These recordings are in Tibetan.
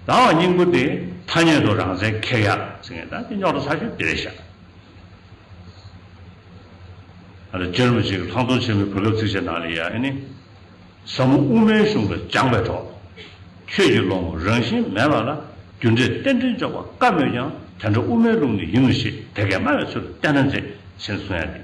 ད་འང་སྙིང་པོ་དེ་ཐ་སྙད་དུ་རང་མཚན་ཁེ་ཡག་ཟེར་ངེས་ད་དེ་རྙོག་དྲ་ཚ་ཤོས་དེ་རེད་ཤག། ཨ་ར་གཅེར་བུ་ཞིག་ལྷག་མཐོང་ཆེན་མོའི་བུ་ལབ་ཚིག་བྱས་ནང་ལས་ཡ་ཨེ་ནི། ཟབ་མོ་དབུ་མའི་གཞུང་ལ་སྦྱངས་པའི་གྲོགས། ཁྱོད་ཀྱི་ལོ་ངོ་རང་བཞིན་མེད་པ་ལ་རྒྱུ་འབྲས་རྟེན་འབྲེལ་འཇོག་པ་དཀའ་མོད་ཀྱང་དེ་འདྲ་དབུ་མའི་ལུགས་ནས་ཡིན་ནོ་ཞེས་དེ་སྐད་སྨྲ་བའི་ཚུལ་བསྟན་ན་མཛེས་ཟེར་ནས་གསུང་ཡ་འདི།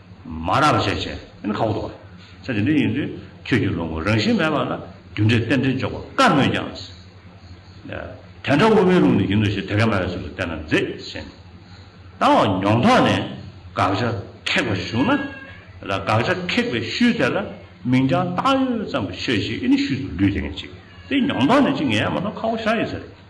མ་རབས་བཞད་བྱས་ཨེ་ཁ་བོ་དོ། ཚེ་འདི་འདྲ་ཡིན་དུས་ཁྱོད་ཀྱི་ལོ་ངོ་རང་བཞིན་མེད་པ་ལ་རྒྱུ་འབྲས་རྟེན་འབྲེལ་འཇོག་པ་དཀའ་མོད་ཀྱང། དེ་འདྲ་དབུ་མའི་ལུགས་ནས་ཡིན་ནོ་ཞེས་དེ་ག་མ་བའི་ཚུལ་དུ་བསྟན་ན་མཛེས་ཟིན། ད་འོ་མྱོང་ཐོག་ནས་དགག་བྱ་ཁེགས་པ་བྱུང་ན། དགག་བྱ་ཁེགས་པའི་ཤུལ་དེ་ལ་མིང་བྱང་བཏགས་ཡོད་ཙམ་ཤོད་ཅིག་ཨེ་ནི་ཤུལ་དུ་ལུས་དེ་ངས་ཅིག་དེ་མྱོང་ཐོག་ནས་ཅིག་ངས་མ་གཏོགས་ཁ་བོ་ཤ་ཡི་ཟེར།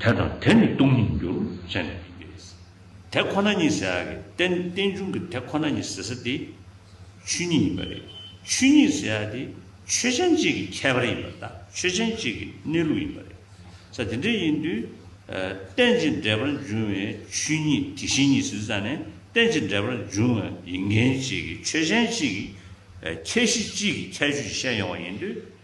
དེ་དང་དེ་ནི་སྟོང་ཉིད་འགྱུར་བྱེད་ནི་མིན་ཏེ། དེ་ཁོ་ན་ཉིད་ཟེར་ཡ་གི་རྟེན་རྟེན་འབྱུང་གི་དེ་ཁོ་ན་ཉིད་ཟེར་ས་དེ་ཆོས་ཉིད་ཡིན་པ་རེད། ཆོས་ཉིད་ཟེར་ཡ་དེ་ཆོས་ཅན་གཅིག་གི་ཁྱད་པར་ཡིན་པ་དང་ཆོས་ཅན་གཅིག་གི་གནས་ལུགས་ཡིན་པ་རེད། ས་དེ་འདྲ་ཡིན་དུས། རྟེན་ཅིང་འབྲེལ་པར་འབྱུང་བའི་ཆོས་ཉིད་དེ་བཞིན་ཉིད་ཟེར་ས་ནི་རྟེན་ཅིང་འབྲེལ་པར་འབྱུང་བ་ཡི་འགན་བྱེད་ཀྱི་ཆོས་ཅན་གཅིག་གི་ཁྱད་གཞི་གཅིག་གི་ཁྱད་ཆོས་ཤེས་ཡོང་བ་ཡིན་དུས།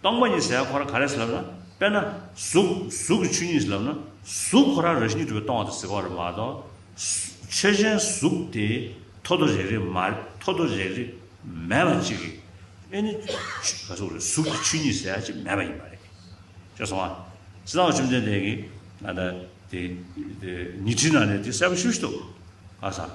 སྟོང་པ་ཉིད་ཟད་ཁོ་རང་ག་རེ་ཟེར་ལབ་ན། དཔེར་ན། གཟུགས། གཟུགས་ཀྱི་ཆོས་ཉིད་ཟེར་ལབ་ན། གཟུགས་ཁོ་རང་རང་བཞིན་གྱི་གྲུབ་པའི་སྟོང་བ་དང་ཟད་པ་རེད་མ་གཏོགས། ཆོས་ཅན་གཟུགས་དེ། ཐོ་ཐོ་རེག་རེག་མ། ཐོ་ཐོ་རེག་རེག། མེད་པ་གཅིག་རེད། དབྱེ་ནི། གཟུགས་རེད། གཟུགས་ཀྱི་ཆོས་ཉིད་ཟད་ཅིག་མེད་པ་ཡིན་པ་རེད། ཤེས་སོང་ང། ཅི་སྟེ་བཅོམ་ལྡན་འདས་ཀྱིས། ང་ད། དེ། ཉི་ཁྲིའི་ནང་ནས་དེ་གསལ་པོ་ཤོད་ཤེས་ཐུབ། ཨ་ས། ཨ།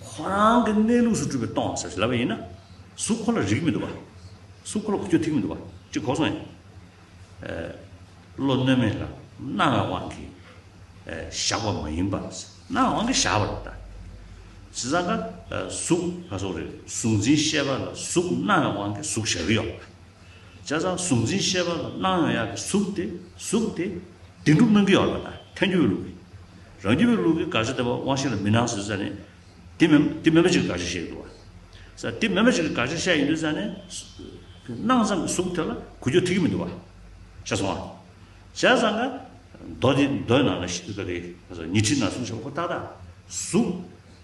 ཁོ་རང་གི་གནས་ལུགས་སུ་སྤྲུལ་པའི་སྟོང་ཟེར་བཞིན་ལབ་པ་ཡིན་ན། གཟུགས་ཁོ་ལ་རིགས་མི་འདུག་པ། གཟུགས་ཁོ་ལ་གོ་ཆོད་ཐིག་མི་འདུག་པ་ཅིག་གོ་སོང་ཡང། བློ་རྣོན་མེད་ལ་སྣང་བའི་དབང་གིས་བཞག་པ་མ་ཡིན་པར། སྣང་བའི་དབང་གིས་བཞག་པ་རེད་ད། བྱས་ཙང་ཀ་གཟུགས་ལ་སོགས་རེད་གཟུགས་འཛིན་ཤེས་པ་ལ་གཟུགས་སྣང་བའི་དབང་གིས་གཟུགས་བཞག་གི་ཡོད། བྱས་ཙང་གཟུགས་འཛིན་ཤེས་པ་ལ་སྣང་ཡང་ཡང་གི་གཟུགས་དེ་གཟུགས་དེ། བདེན་གྲུབ་སྨོན་གྱི་ཡོད་པ་དང་ཐལ་འགྱུར་བའི་ལུགས་ཀྱིས། རང་རྒྱུད་པའི་ལུགས་ཀྱིས་དགག་བྱ་དེ་བ་དབང་ཤེས་ལ་མི་སྣང་ཟེར་ས་ནི། དེ་མེ་དེ་མེ་མ་ཅིག་གི་དགག་བྱ་བཤད་ཡི་འདུག་བ། ས་དེ་མེ་མ་ཅིག་གི་དགག་བྱ་བཤད་ཡི་འདུག་ས་ནི། སྣང་ཙམ་གྱི་གཟུགས་དེ་ལ་གུ་ཅོ་ཐིག་གི་མི་འདུག་བ། ཤ་ཚོང་བ། བྱས་ཙང་ཀ། མདོ་དེ་མདོའི་ནང་ལ་ཤི་ཀ་རེ། ཉི་ཁྲི་ན་གསུམ་བྱས་པ་ཁོ་ཏག་ཏག། གཟུགས།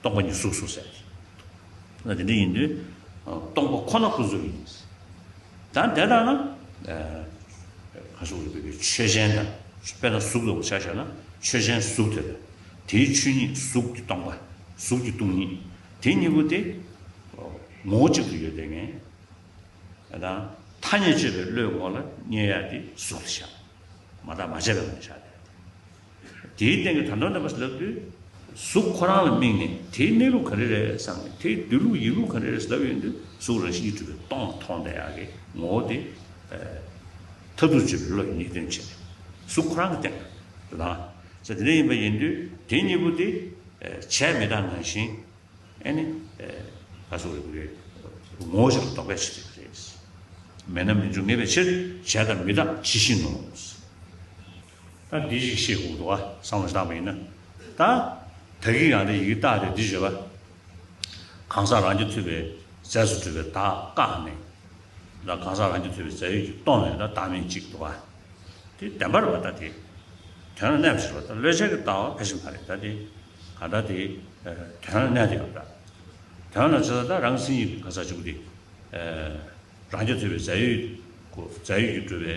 སྟོང་པ་ཉིད་གཟུགས་སུ་གསལ། ན་དེ་འདྲ་ཡིན་དུས་སྟོང་པ་ཁོ་ན་ཁོ་གཟུགས་ཡིན། ད་དེ་ལྟར་ན། གང་ཞིག་འོད་དེ་ཆོས་ཅན་དང། དཔེར་ན་གཟུགས་ལ་འོད་ཆགས་ཤར་ན་ཆོས་ཅན་གཟུགས་དེ་དང་དེའི་ཆོས་ཉིད་གཟུགས་ཀྱི་སྟོང་པ། གཟུགས་ཀྱི་སྟོང་ཉིད། དེ་གཉིས་པོ་དེ། ངོ་བོ་གཅིག་ཏུ་ཡོད་དེ་ངེས། ད་ཐ་སྙད་བཅད་པའི་བློའི་ངོ་ལ་བསྙད་ཡ་དེ་གཟུགས་ལ་བཞག། མ་དག་མ་བྱས་པའི་ངང་ལ་བཞག་སྟེ། དེའི་སྟེང་གི་དམ་དྲག་ནོན་པ་ཞིག་ལབ་དུས། གཟུགས་ཁོ་རང་ལ་དམིགས་ནས་དེའི་གནས་ལུགས་ག་རེ་རེད་བསམ་ནས་དེའི་སྡོད་ལུགས་ཡིན་ལུགས་ག་རེ་རེ་ཞིག་ལབ་ཡོང་དུས་གཟུགས་རང་བཞིན་གྱིས་གྲུབ་པའི་སྟོང་པ་མཐོང་བདེ་ཡག་གི་ངོ་བོ་དེ། མཐར་ཐུག་བརྗོད་པའི་བློ་ཡི་ཉེས་སྐྱོན་ཆེ་བས་གཟུགས་ཁོ་རང་གི་སྟེང་ལ་ལངས། ས་དེ་འདྲ་ཡིན་པ་ཡིན་དུས་དེ་གཉིས་པོ་དེ། བྱས་མི་དག་ནང་བཞིན་ཨེ་ནི། ལ་སོགས་རེ་རེ་ངོ་བོ་ཞིག་ལ་རྟོག་པའི་ཕྱིར་ཡིན་པ་རེད། མེད་ན་མི་འབྱུང་ངེས་པའི་ཕྱིར་བྱས་དང་མི་དག་ཇི་བཞིན་ནོ། ད་འདི་ཞིག་ཤེས་དགོས་འདུག་ཨ་བསམ་བློ་བཏང་བ་ཡིན་ན། ད་ད་གིས་ཡང་དེ་ཡིག་བཏགས་ཏེ་འདི་བྱས་པ། གང་ཟག་རང་གི་ཐོས་པའི་རྫས་སུ་གྲུབ་པའི་དག་བཀག་ནས། ད་གང་ཟག་རང་གི་ཐོས་པའི་རྫས་ཡོད་ཀྱི་སྟོང་ནས་ད་བདག་མེད་ཅིག་འདུག་ཨ། དེ་བདེན་པར་བ་ད་དེ། དོན་ལ་གནས་པ་ཞིག་ལ་ད་བློས་བྱས་ཀྱི་བཏགས་བ་ཕལ་ཆེར་མ་རེད་ད་དེ། གང་ད་དེ། དོན་ལ་གནས་ཏེ་བ་ད། དོན་ལ་ཚོད་ད་ད་རང་སེམས་ཡིན་པའི་གང་ཟག་ཅིག་པོ་དེ། རང་གི་ཐོས་པའི་རྫས་ཡོད་ཀྱི་རྫས་ཡོད་ཀྱི་གྲུབ་པའི།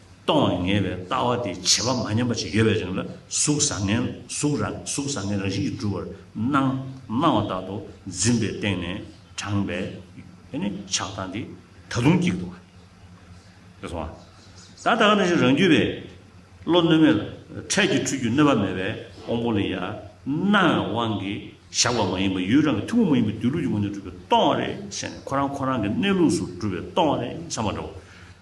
སྟོང་བ་ངེས་པའི་ལྟ་བ་དེ་བྱེད་པ་མ་ཉམས་པ་ཅིག་ཡོད་པའི་རིང་ལ་གཟུགས་བཟང་ངན་གཟུགས་རང་གཟུགས་བཟང་ངན་རང་བཞིན་གྱིས་གྲུབ་པར་སྣང། སྣང་བ་དག་ཏུ་འཛིན་པའི་སྟེང་ནས་དྲངས་པའི་ཆགས་སྡང་དེ་ད་དུང་སྐྱིད་འདུག། དེ་སོང་བ་ད་ད་ག་ནས་ཤིག་རང་རྒྱུད་པའི་བློ་གནོད་མེད་ལ་འཕྲལ་གྱི་འཁྲུལ་རྒྱུ་གནོད་པ་མེད་པའི་དབང་པོ་ལས་ཡར་སྣང་བའི་དབང་གིས་བཞག་པ་མ་ཡིན་པར་ཡུལ་རང་གི་ཐུན་མོང་མ་ཡིན་པའི་སྡོད་ལུགས་ཀྱི་ངོས་ནས་གྲུབ་པའི་སྟོང་བ་རེད་ཟེར་ནས་ཁོ་རང་ཁོ་རང་གི་གནས་ལུགས་སུ་གྲུབ་པའི་སྟོང་བ་རེད་བསམ་པ་འདྲ་བོ།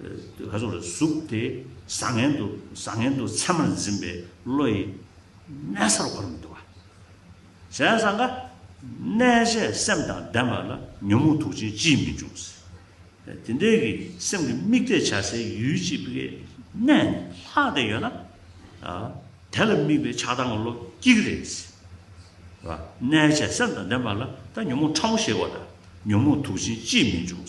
ལྷ་ཚོགས་ལ་ཟུག་སྟེ་བཟང་ངན་དུ་བཟང་ངན་དུ་མཚན་མར་འཛིན་པའི་བློ་ཡིས། གནས་སར་འཁོར་མི་འདུ་བ། གཞན་ས་འགའ། གནས་བྱའི་སེམས་དང་ལྡན་པ་ལ་ཉོན་མོངས་དུག་ཅན་ཅིས་མི་འབྱུང། དེ་འདྲའི་གི་སེམས་ཀྱི་དམིགས་གཏད་བྱ་སའི་ཡུལ་གཅིག་པའི་གནས་ནི་ལྷག་བདེ་ཡོད་ན། དེ་ལ་དམིགས་པའི་ཆགས་སྡང་གི་བློ་སྐྱིད་རེ་རེ་ཟེར། གནས་བྱའི་སེམས་དང་ལྡན་པ་ལ་ད་ཉོན་མོངས་ཕྲ་མོ་ཞེས་བ་དང་ཉོན་མོངས་དུག་ཅན་ཅིས་མི་འབྱུང།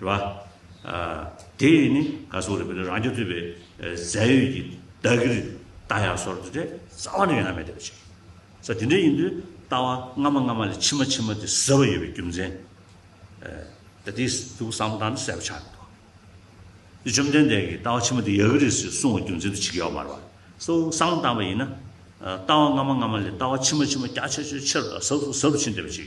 རེད་བ། དེ་ཡིས་ནི་ག་སོགས་རེད་བ་ལས་རང་རྒྱལ་གཙོས་པའི་རྫས་ཡོད་ཀྱི་བདག་གིར་བལྟ་ཡ་སོགས་རེད་བ་ལས་རྩ་བ་ནས་ཡོད་ན་མེད་བལྟ་བ་བྱེད་ས་དེ་འདྲ་ཡིན་དུས་ལྟ་བ་སྔ་མ་སྔ་མ་ལས་ཕྱི་མ་ཕྱི་མ་དེ་ཟེར་བ་ཡོད་པའི་རྒྱུ་མཚན་ད་དེ་ཐུགས་བསམ་བཏང་ནས་གསལ་པོ་ཆགས་མི་འདུག་དེ་བཅོམ་ལྡན་འདས་ཀྱིས་ལྟ་བ་ཕྱི་མ་དེ་ཡག་གི་རེད་ཟེར་གསུངས་བ་རྒྱུ་མཚན་དུ་བྱེད་ཀྱི་ཡོད་མ་རེད་བ། སོགས་བསམ་བཏང་བ་ཡིན་ན། ལྟ་བ་སྔ་མ་སྔ་མ་ལས་ལྟ་བ་ཕྱི་མ་ཕྱི་མ་རྒྱ་ཆེ་ཆེ་ཆེ་རུ་དང་ཟབ་ཟབ་ཟབ་ཟབ་ཕྱིན་བལྟ་བ་བྱེད་ཀྱི